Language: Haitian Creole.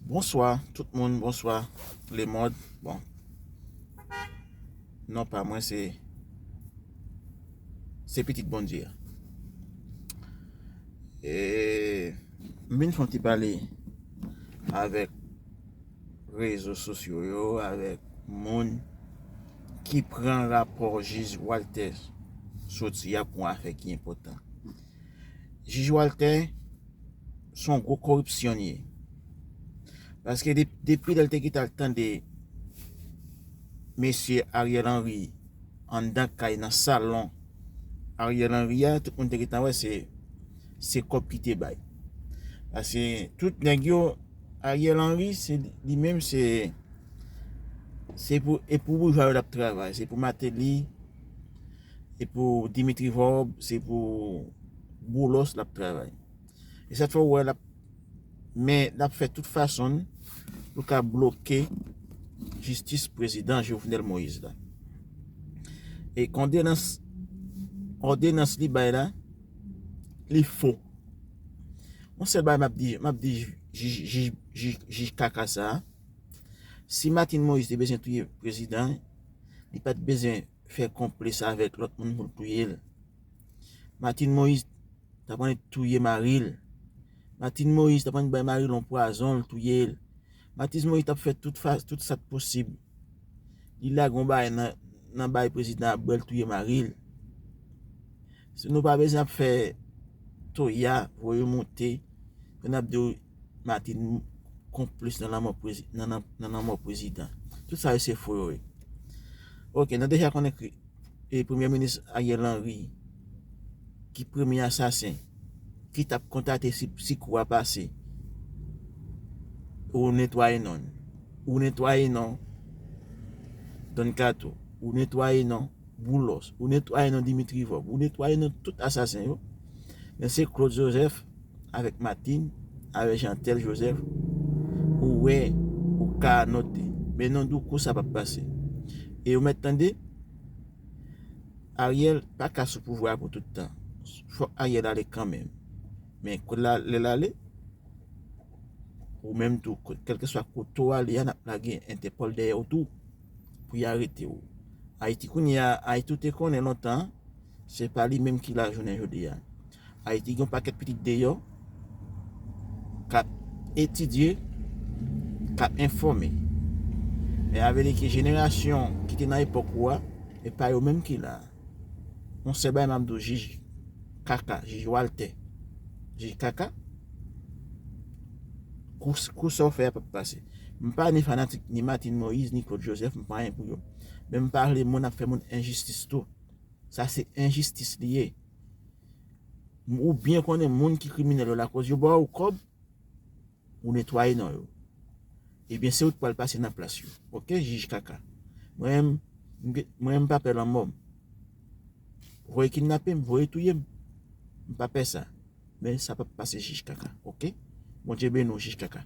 Bonswa tout moun bonswa le mond bon non pa mwen se se pitit bondye a eee m vin fon ti pale avèk rezo sosyo yo avèk moun ki pran rapò jij waltè soti a pou afè ki enpotan. Jij waltè son gwo koripsyonye paske depi lèl te kite al tande mesye Ariel Henry anndan kay nan salon Ariel Henry a tout moun te gentan wè se se kòb ki te bay paske tout nèg yo Ariel Henry se li menm se se pou e pou boujwa yo lap travay se pou Martelly Se pou Dimitri Vorb, se pou Boulos lap travay. E sa fè ou wè lap men lap fè tout fason pou ka bloke jistis prezidan Jovenel Moïse la. E kondenans òdenans li bay la li fo. Mwen sèl bay map di map di jij kaka sa a. Si Martine Moïse te bezyen touye prezidan, li pat bezyen fè konplis avèk lòt moun pou l touye l. Martine Moïse t ap annik touye mari l. Martine Moïse t ap annik bay mari l yon pwazon l touye l. Martine Moïse t ap fè tout sa k posib. Li lage yon bagay nan bay prezidan ap bwè l touye mari l. Nou pa bezwen ap fè toya voye monte pou n ap di w. Martine konplis nan lanmò prezidan. Tout sa yo se fo yo ye. Ok, nou deja konnen ki e premye minis Ariel Henry ki premye asasen ki tap kontate si kou a pase pou netwaye non. Ou netwaye non Don Kato, ou netwaye non Boulos, ou netwaye non Dimitri Vob, ou netwaye non tout asasen yo. Men se Claude Joseph avèk Martine avèk Jeantel Joseph ou wè ou ka anote men non Douko sa pap pase e ou mèt tande Ariel paka sou pouvwa a pou tout tan fòk Ariel ale kanmenm men kòl la lèl ale ou menm tou kèlkeswa kote ou ale a nap lage entèpòl dèyèw tou pou y arete ou Ayiti kounye a Ayiti ou te konnen lontan an Se pa li menm ki la jounen jodi a. Ayiti gen yon pakèt pitit deyò k ap etidye, k ap enfòme. Men a vle di ke jenerasyon ki te nan epòk ou a, e pa yo menm ki la a. Yon sèl bagay m ap di w, jij kaka, jij Waltè, jij kaka, kou sa w fè a pa p pase. M pa ni fanatik ni Martine Moïse, ni Claude Joseph, m pa anyen pou yo. Men m pa vle moun ap fè moun enjistis tou. Sa se enjistis li ye. Ou byen konnen moun ki kriminèl yo lakoz yo ba ou kòb, ou netwaye non yo. Ebyen se ou ki pral pase nan plas yo. Ok jij kaka. Mwen menm, mwen menm m pa pè lanmò. Voye kidnape m, voye touye m. M pa pè sa. Men sa pap pase jij kaka. Ok. Bondye beni w jij kaka.